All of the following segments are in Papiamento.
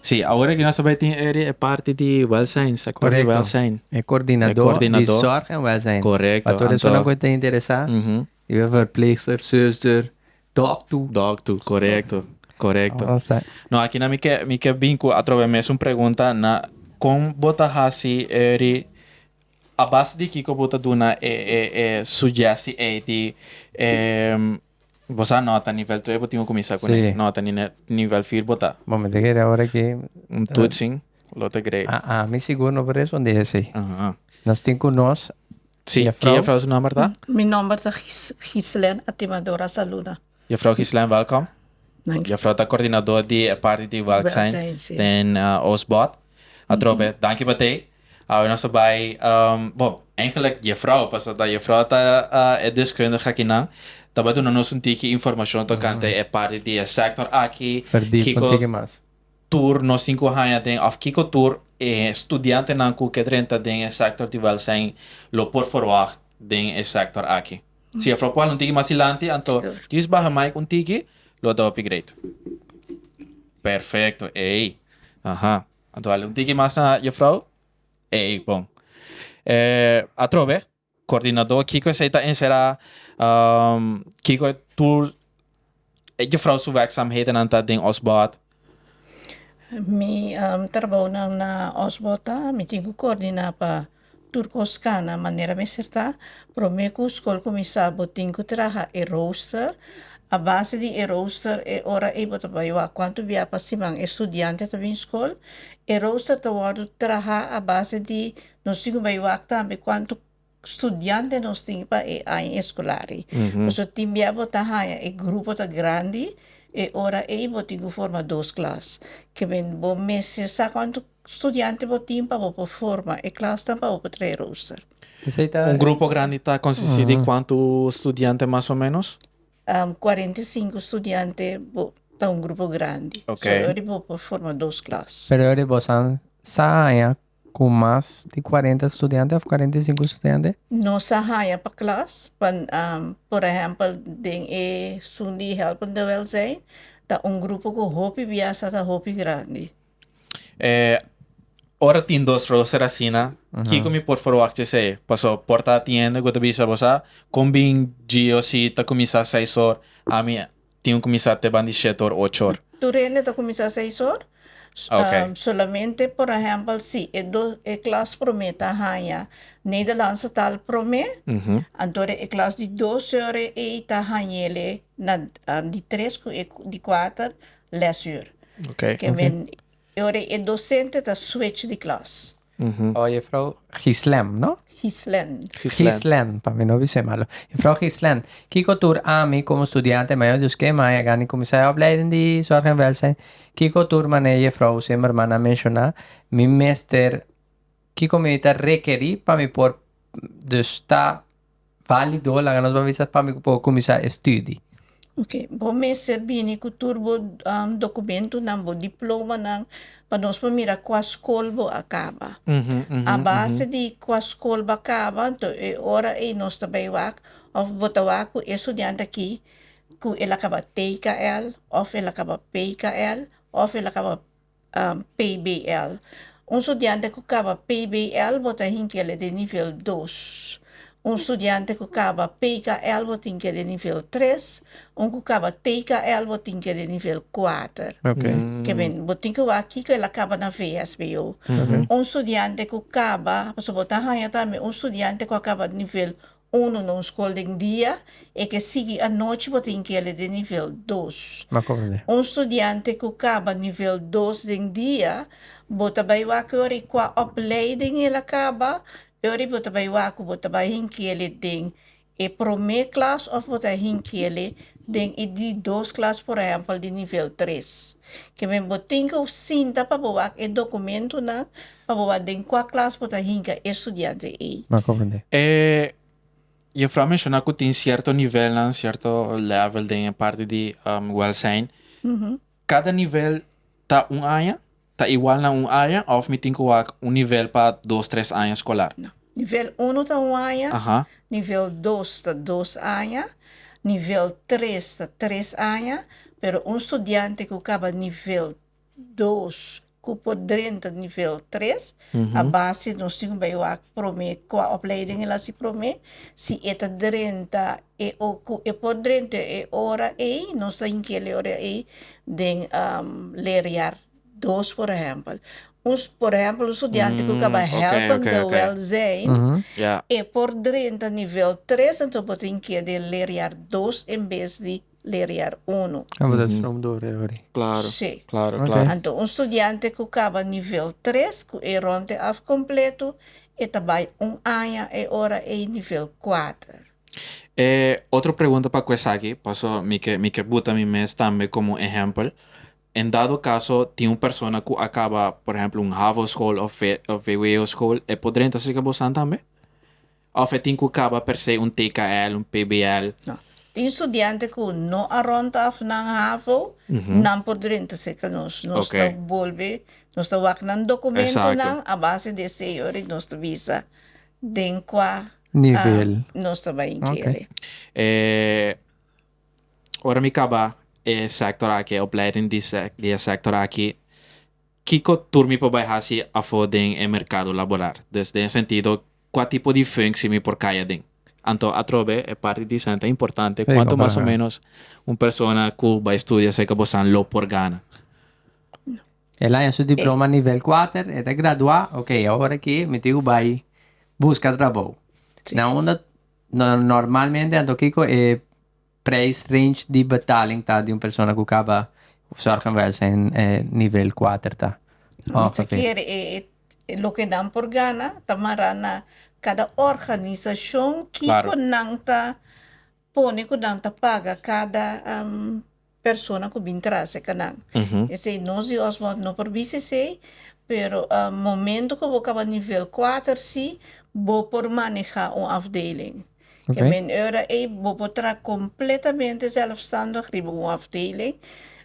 Si, awor aki nos ta bai tin eri e parti di wèlzijn, sektor di wèlzijn. Korekto. E kordinadó di sòrg en wèlzijn. Korekto. Pa tur esunnan ku e ta interesá, di verpleegster, zùster, dòktu. Dòktu, korekto. Korekto. No, akinan mi ke mi ke bin ku atrobe mesun pregunta na kon bo ta hasi eri, a base di kiko bo ta duna e e e suggesti ei di e Bo sa nota nivel tres bo tin cu cuminsa cu ne nota nivel fier bo ta. Bo me ta kere ora ki. Un toetsing lo ta grade. A a mi sigur no por respondi esey. Nos tin cu nos. Si ki juffrouw su nomber ta? Mi nomber ta Gislène Atimador a saluda. Juffrouw Gislène welkom. Danki. Juffrouw ta coordinador di e parti di welzijn den Oostbod. Atrobe danki pa tey. Awe nos a bai, bon, eigenlijk jefrouw, paso ta jefrouw ta e deskundige akinan, ta bai duna nos un tiki informashon tokante e parti di e sektor aki, kiko tur nos tin ku haña den òf kiko tur e studiantenan ku ke drenta den e sektor di wèlzijn lo por ferwagt den e sektor aki. Si jefrouw por hala un tiki mas dilanti anto jis baha maik un tiki lo ta hopi greit. Perfekto, eei, aha. Anto hali un tiki mas na Juffrouw? Ei, bon. E atrobe, coordinador kiko esei ta encerá, kiko tur e Juffrouw su werkzaamhedennan ta den Osbod? Mi trabounan na Osbod ta, mi tin cu coordiná pa. Tur kos kana manera mester ta. Promé ku skol kuminsá bo tin ku traha e roster. A base di e roster e ora ei bo ta bai wak kuantu bia pa siman e studiante ta bin skol. E roster ta wòrdu trahá a base di nos tin ku bai wak tambe kuantu studiante nos tin pa e aña eskolar ei. Pasobra tin bia bo ta haña e grupo ta grandi e ora ei bo tin ku forma dos klas. Kibien bo mester sa kuantu. studiante bo tin pa bo por forma e klasnan pa bo por trae rooster? Esei ta. Un grupo grandi ta konsisti di kuantu studiante mas o menos? Kuarenta i sinku studiante bo ta un grupo grandi. Ok. So e ora bo por forma dos klas. Pero e ora bosan sa haña ku mas di kuarenta studiante òf kuarenta i sinku studiante? No sa haña pa klas pa por ehèmpel den e sun di helpende welzijn ta un grupo ku hopi bias ata hopi grandi. Eh, ora tin dos roster asina, kiko mi por forwak cesey? Paso por ta atiende ku ta bisa bo sa, kon bin Gio si ta kuminsá seis or, ami tin ku kuminsá te bandi shete or ocho or? Tur hende ta kuminsá seis or. Okay. Solamente por ehèmpel si e dos, e klas promé ta haña Nederlandsetaal promé, anto e klas di dos ore ei ta hañ'e le na di tres ku e di kuater, lesuur. Okay. Ke men ori e dosente ta switch di klas. Mhm. Oh, juffrouw Gislem, no? Gislen. Gislen. Gislen, pa mi no bisé malo. Juffrouw Gislen, kiko tur ami komo studiante mayor di oskei maya a gana di kuminsá e opleiding di Zorg en Welzijn? Kiko tur manera juffrouw Zimmerman a menshoná mi mester kiko mi ta rekerí pa mi por dus ta valido laga nos ban bisa pami ku por kuminsá e stüdi. Ok, bo mester bini ku tur bo dokumentunan, bo diplomanan pa nos por mira kua skol bo a kaba. A base di kua skol bo a kaba to e ora ei nos ta bai wak òf bo ta wak ku e studiante aki ku el a kaba TKL òf el a kaba PKL òf el a kaba PBL. Un studiante ku kaba PBL bo ta hinkia le den nivel dos. Un studiante ku kaba PKL bo ta hinkia den nivel tres. Un ku kaba TKL bo ta hinkia den nivel kuater. Kebien, bo tin ku wak kiko el a kaba na VSBO. Un studiante ku kaba, pasobra bo ta haña tambe un studiante ku a kaba nivel Uno na un skol den dia e ke sigui anochi bo tin kele den nivel dos. M'a komprendé. Un studiante ku kaba nivel dos den dia, bo ta bai wak yori kua opleiding el a kaba, yori bo ta bai wak ku bo ta bai hin kele den e promé klas òf bo ta hin kele den e di dos klas por ehèmpel di nivel tres. Ke men bo tin ke sinta pa bo wak e dokumentunan Pa bo wak den kua klas bo ta hinka e studiante ei. M'a konfunde. E jefrou a menshoná ku tin sierto nivelnan, sierto lèvel den e parti di wèlsein. Kada nivel ta un aña? Ta igual na un aña òf mi tin ku wak un nivel pa dos, tres aña skolar? No. Nivel unu ta un aña. Aha. Nivel dos ta dos aña. Nivel tres ta tres aña. Pero un studiante ku kaba nivel dos ku por drenta nivel tres a base nos tin ku bai wak prome kua opleiding el a hasi prome si e ta drenta e ku e por drenta e ora ei nos ta hinki el e ora ei den leriar dos por ehèmpel un por ehèmpel un studiante ku kaba hèlp de wèlzijn e por drenta nivel tres enton bo ta hinki e den leriar dos en bes di leriar unu. A bo ta stroom door e ori. Claro. Sí. Claro, Ok. claro. Anto un studiante cu caba nivel tres cu e ronde af completo e ta bay un aña e ora ey nivel kuater. E otro pregunta pa cu esaki, paso mi ke mi ke buta mi mes tambe como ehempel, en dado caso tin un persona cu a caba por ehempel un havo school of ve of vwo school e por drenta cerca bo staan tambe? Of e tin cu caba per se un TKL, un PBL. No. Tin studiante cu no a rond af nan havo, nan por drenta cerca nos. Nos ta bolbe, nos ta wak nan documentonan a base di e seyo ora y nos ta bisa den cua nivel nos ta bay geri. E ora mi caba e sector aki, e opleiding di e sector aki, kico tur mi por bay haci afo den e mercado laboral? Dus den e sentido Kua tipo di funsi mi por kaya den? Anto atrobe e parti di esnan ta importante, kuantu mas o menos un persona ku bai studia serka bosan lo por gana? E laña su diploma nivel kuater, e ta gradua, ok, awor aki mi tin ku bai buska trabou. Na unda normalmente anto kiko e. Prijs range di betaling ta di un persona ku kaba Zorginwijze nivel kuater ta. Mester kier e loke nan por gana ta mará na kada organisashon kiko nan ta pone ku nan ta paga kada persona ku bin trase ka nan. Esei nos di Osmond no por bisa esei pero momento ku bo kaba nivel kuater si bo por maneha un afdeling. Ke men ora ei bo por traha kompletamente zelfstandig riba un afdeling,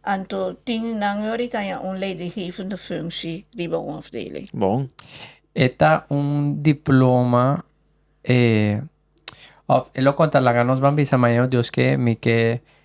anto tin nan ora i taña un leidinggevende funksie riba un afdeling. Bon. E ta un diploma e òf e lo konta laga nos ban bisa, Mañana Dios ke mi ke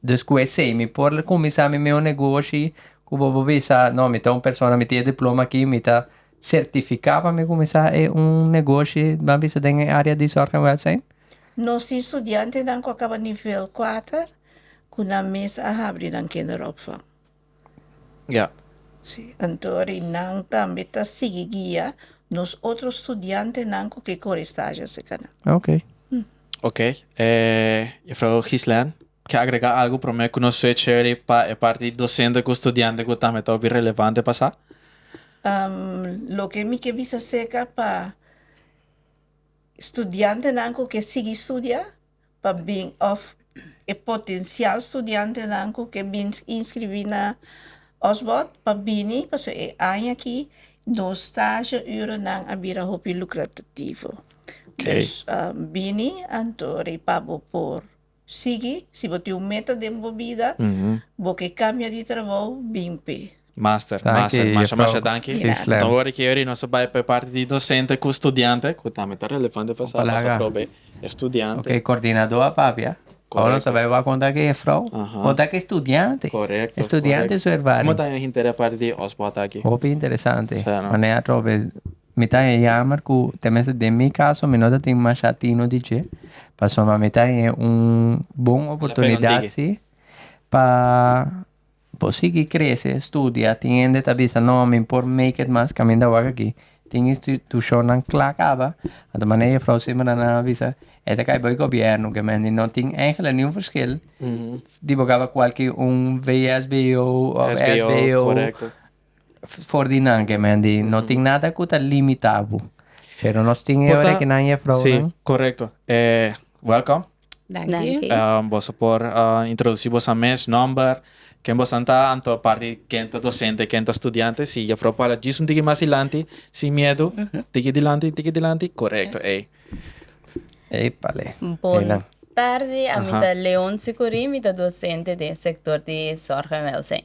Dus cu esey mi por cuminsa mi meo negoshi cu bobo bisa no mi ta un persona mi tin e diploma aki mi ta certifica pa mi cuminsa e un negoshi ban bisa den e area di zorg en welzijn? Nos tin studiantenan cu a caba nivel cuater cu nan mes a habri nan kinderopvang. Ya. Sí, anto ri nan tambe ta sigui guia nos otro studiantenan cu ke kore stashi a seka nan. Ah, ok. Ok, eh, Jufrouw Gislen, ke agrega algu prome cu nos sue chévere pa e parti di docente cu studiante cu tambe ta hopi relevante pa sa? Loke mi ke bisa seka pa studiantenan cu ke sigui studia. pa bin of e potensial studiantenan cu ke bin inscribi na Osborn pa bini pasobra e aña aki nos stagieuronan a bira hopi lucratativo. Dus bini anto rei pa bo por sigui. Si bo tin un meta den bo bida, bo ke cambia di trabou, bin p'e. Master, master, masha masha danki. Nta wori ke yori nos a bai pa e parti di dosente ku studiante, ku tambe ta relevante pa sa a pasa probe e studiante. Ok, kordinadó a papia. Awo nos a bai wak konta ku e jefrouw, konta ku e studiante. Korekto. E studiante su ervaring. Komo ta e hinter a parti di Osbo ata aki? Hopi interesante. Manera a trobe, mi ta e yamer ku, te mester den mi kaso, mi no ta tin masha tino di dje. Pasobra mi ta e un bon oportunidat si pa. Por sigui krese, studia, tin hende ta bisa no mi por make it mas kaminda wak aki, tin institushonnan kla kaba, a ta manera jefrouw Simmerda nan a bisa, e ta kai bo e gobièrnu, ke men di no tin èigelik niun ferskil di bo kaba kualke un VSBO òf SBO. For di nan ke men di no tin nada ku ta limita bo. Pero nos tin e ora ke nan i e frounan. Si, korekto. Welkom. Danki. Boso por introdusí boso mes, nòmber, ken boso ta anto aparte di ken ta dosente, ken ta studiante. Si Jefrouw Paula djis un tiki mas dilanti, sin miedu, tiki dilanti, tiki dilanti. Korekto ei. Ei palé. Bon tardi, ami ta Leon Sicurì, mi ta dosente den sektor di Sòrg en Wèlzijn.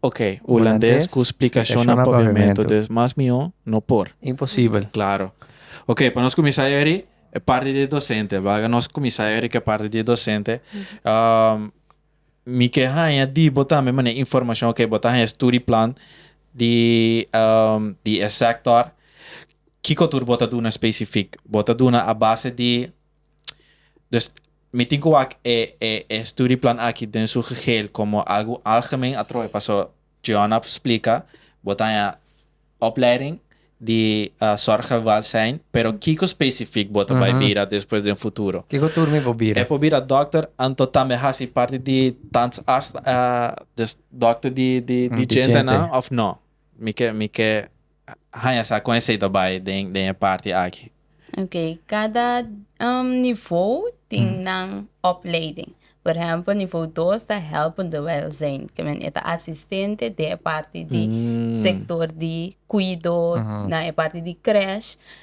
Ok, Hulandes cu splicashonnan paviamento dus mas mihó no por. Imposibel. Claro. Ok, pa nos cuminsa eri e parti di e docente. Baga nos cuminsa eri cu e parti di e docente. Mi ke haña di bo tambe mane informacion. Ok, bo ta haña e study plan di di e sector. Kico tur bo ta duna specific? Bo ta duna a base di. Dus mi tin ku wak e e e studieplan aki den su geheel komo algu algemeen atrobe paso Giona a splika bo ta haña opleiding di sòrg en wèlzijn pero kiko spesifik bo ta bai bira despues den futuro? Kiko tur mi por bira? Mi por bira dòkter anto tambe hasi parti di tandsarts, dus dòkter di di di djentanan òf nò? Mi ke mi ke. haña sa kon e sey ta bai den e parti aki. Ok, kada nivou tin nan opleiding. Por ehèmpel nivou dos ta hèlp di wèlzijn, ke men e ta asistente den e parti di sektor di kuido, na e parti di krèsh.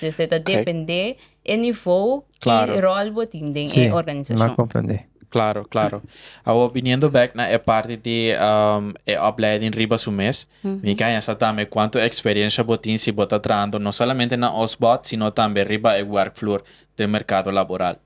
Yo se ta depende e nivou ki ròl bo tin den e organisashon. Klaro, klaro. Awor biniendo bèk na e parti di e opleiding riba su mes, mi ke haña sa tambe kuantu eksperiensha bo tin si bo ta trahando no solamente na osbòt sino tambe riba e wèrkvloer den merkado laboral.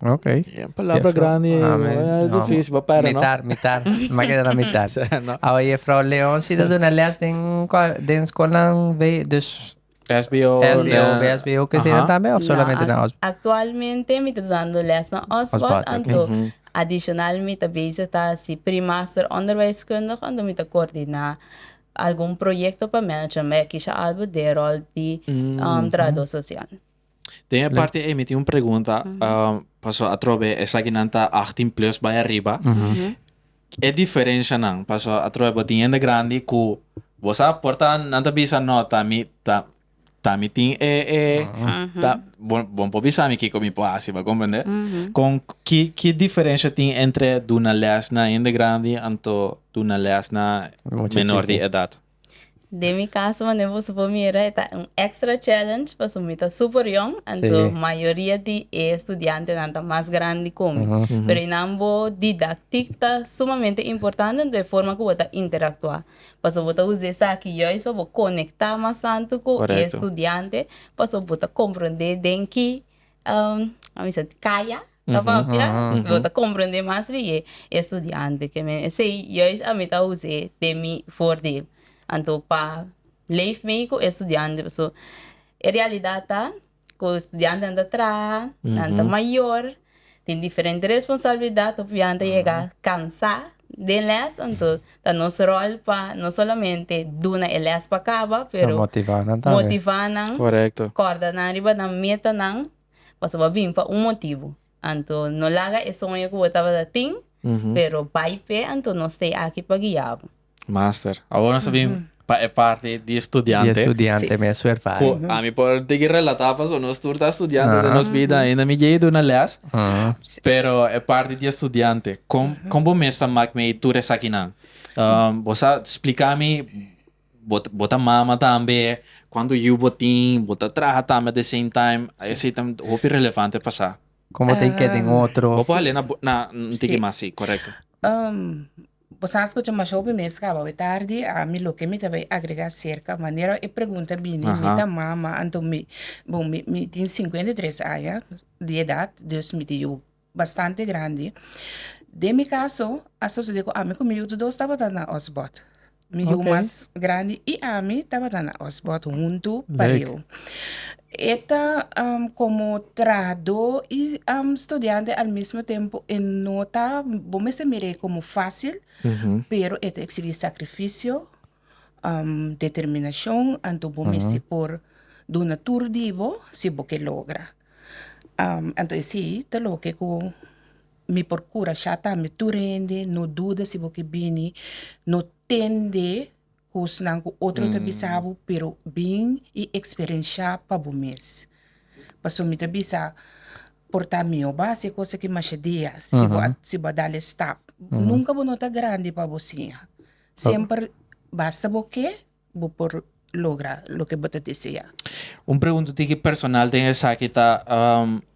Ok. Een palabra grandi difícil pa pera, no? Mitar, mitar. M'a keda na mitar. Awe Jefrouw Leon si ta duna lès den den skolnan wei dus SBO, SBO, VSBO kusina tambe of solamente na Osbod? Aktualmente mi ta dando lès na Osbod anto adishonal mi ta bezig ta hasi Pre-master Onderwijskundig anto mi ta kordina algun proyekto pa management, ma ya kisha albo den ròl di trahadó sosial. Den e parti ei mi tin un pregunta, um, paso atrobe esaki nan ta 18 plus bai arriba. E diferencia nan, paso atrobe bo tin hende grandi ku bo sa por ta nan ta bisa no ta mi ta ta mi tin e e ta bo bo por bisa mi kiko mi por hasi, bo komprende? Kon ki ki diferencia tin entre duna lès na hende grandi anto duna lès na menor di edat? Den mi caso manera boso por mira e ta un extra challenge pasobra mi ta super yòn anto mayoria di e studiantenan ta mas grandi cu mi. Pero e nan bo didactic ta sumamente importante anto e forma cu bo ta interactua pasobra bo ta usa esaki juis pa bo conecta mas tanto cu e studiante pasobra bo ta comprende den ki kaya ta papia bo ta comprende mas riye e studiante ke men esei juis ami ta use de mi voordeel anto pa leef mei ku e studiantenan paso e realidad ta ku e studiantenan ta traha nan ta mayor tin diferente responsabilidad hopi nan ta yega cansa den les anto Ta nos rol pa no solamente duna e les pa caba, pero motiva nan, corda nan riba nan metanan, pasobra bini pa un motibo. Anto no laga e soño cu bo tabata tin, pero bay pe, anto nos tey aki pa guiabo. Master, awor nos ta bin. Pa e parti di e studiante. Di e studiante mes su ervaring. Ku ami por tigi relatá pasobra nos tur ta studiante den nos bida ainda mi dje duna lès. Pero e parti di e studiante kon kon bo mes ta mak mei tur esakinan? Bo sa spliká mi bo bo ta mama tambe kuantu yu bo tin bo ta traha tambe at the same time esei ta hopi relevante pa sa. Kon bo ta ke den otro. Bo por habl'é na bo na un tiki mas si korekto. Bo sa asco cu masho mi mes caba awe tardi, ami loke mi ta bay agrega cerca manera e pregunta bini mi ta mama anto mi, bon mi mi tin cincuenta y tres aña di edad dus mi ta yu bastante grandi, den mi caso a sucede cu ami cu mi yuto dos tabata na Osbod, mi yu mas grandi y ami tabata na Osbod hunto pareho. E ta komo trahadó i studiante al mismo tempu, e no ta, bo mester mir'é komo fásil, pero e ta eksigi sakrifisio, determinashon, anto bo mester por duna tur di bo si bo ke logra. Anto e si ta loke ku mi por kurashá tambe tur hende, no duda si bo ke bini, no tende Kosnan ku otro ta bisa bo, pero bin i eksperenshá pa bo mes. Pasobra mi ta bisa, por ta mihó bo hasi e kos aki masha dia, si bo a, si bo a dal e stap. Nunka bo no ta grandi pa bo siña. Semper basta bo ke, bo por logra loke bo ta deseá. Un pregunta tiki personal den esaki ta,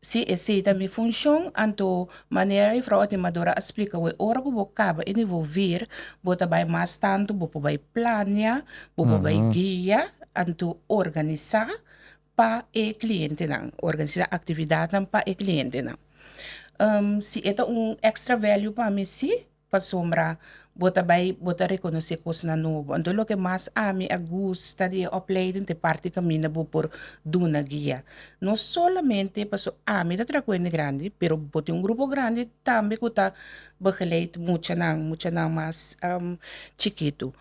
Si esei ta mi funshon, anto manera di Frou Atimadora a splika awor, ora ku bo kaba e nivo vir, bo ta bai mas tantu, bo por bai plania, bo por bai guia, anto organisa pa e klientenan, organisa aktividatnan pa e klientenan. si e ta un extra value pa mi, sí. Pasobra bo ta bai bo ta rekonosé kosnan nobo. Anto loke mas ami a gusta di e opleiding ta e parti kaminda bo por duna guia. No solamente paso ami ta traha ku hende grandi, pero bo tin un grupo grandi tambe ku ta begeleid muchanan, muchanan mas chikitu.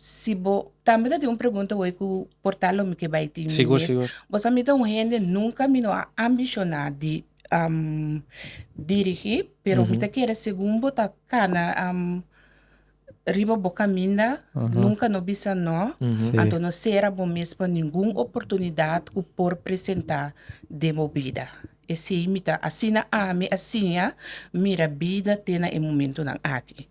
Si bo tambe ta tin un pregunta wei ku por tal lo mi ke bai tin mi mes, bo sa mi ta un hende nunka mi no a ambishoná di dirigí pero mi ta kere segun bo ta kana riba bo kaminda nunka no bisa no anto no sera bo mes pa ningun oportunidat ku por presentá den bo bida esei mi ta asina ami a siña mira bida te na e momentunan aki.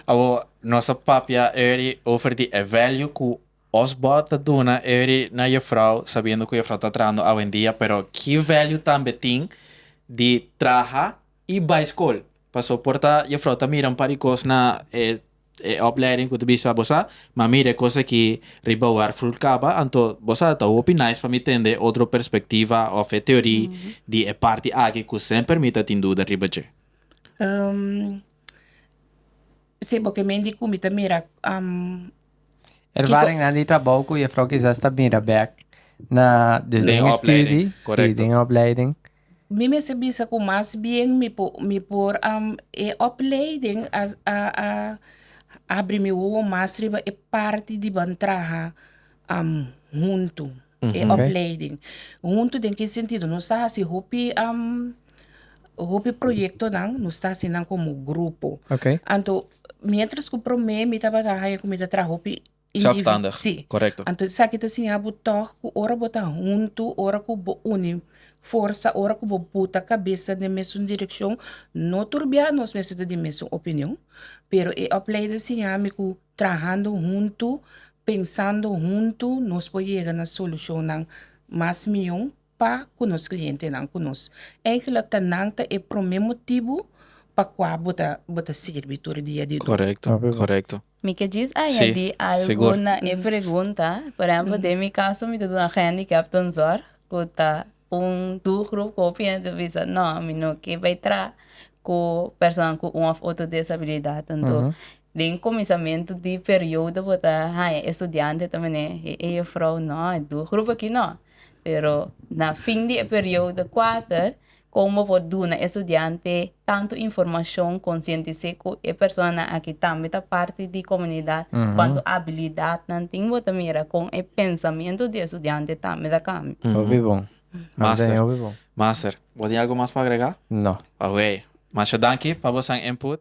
Awor nos a papia Erdy over di e value ku. Os bo ta duna eri na yo frou sabiendo cu yo frou ta trahando awendia pero ki value tambe tin di traha y bay school paso por ta yo frou ta mira un par di cos na e e opleiding cu ta bisto a bo sa ma mira e cos aki riba war fruit caba anto bo sa ta hopi nice pa mi tende otro perspectiva of e teori di e parti aki cu semper mi ta tin duda riba dje. Se bo ke mende ku mi ta mira Ervaringnan di trabou ku Jefrouw kisas ta bira bèk na dus den e studi, si, den e opleiding. Mi mes a bisa ku mas bien mi por mi por e opleiding a a abri mi wowo mas riba e parti di ban traha. am huntu e opleiding huntu den ki sentido nos ta hasi hopi hopi proyektonan nos ta hasi nan komo grupo anto mientras ku promé mi tabata haña ku mi ta traha hopi individual si anto esaki ta siña bo tog ku ora bo ta huntu ora ku bo uni forsa ora ku bo buta kabesa den mesun direkshon no tur bia nos mester ta den mesun opinion pero e opleiding a siña mi ku Trahando huntu, pensando huntu nos por yega na solucionnan mas miyo pa cu nos clientenan cu nos. Eigenlijk ta nan ta e prome motibo pa cua bo ta sirbi tur dia di domingo. Mi ke djis añadi algu na e pregunta. Por ehemplo den mi caso mi ta duna handicapten zorg cu ta. Un tur grupo ku opina ta bisa no mi no ke bai traha ku persona ku un òf otro disabilidat anto den kuminsamentu di periodo bo ta haña e studiante ta mane e ei jufrou no e tur grupo aki no pero na fin di e periodo kuater kon bo por duna e studiante tantu informashon, konsientis'é ku e personanan aki tambe ta parti di komunidat, kuantu abilidatnan tin, bo ta mira kon e pensamentu di e studiante tambe ta kambia. Hopi bon. Master, master, bo tin algu mas pa agregá? No. Ok. Masha danki pa boso input.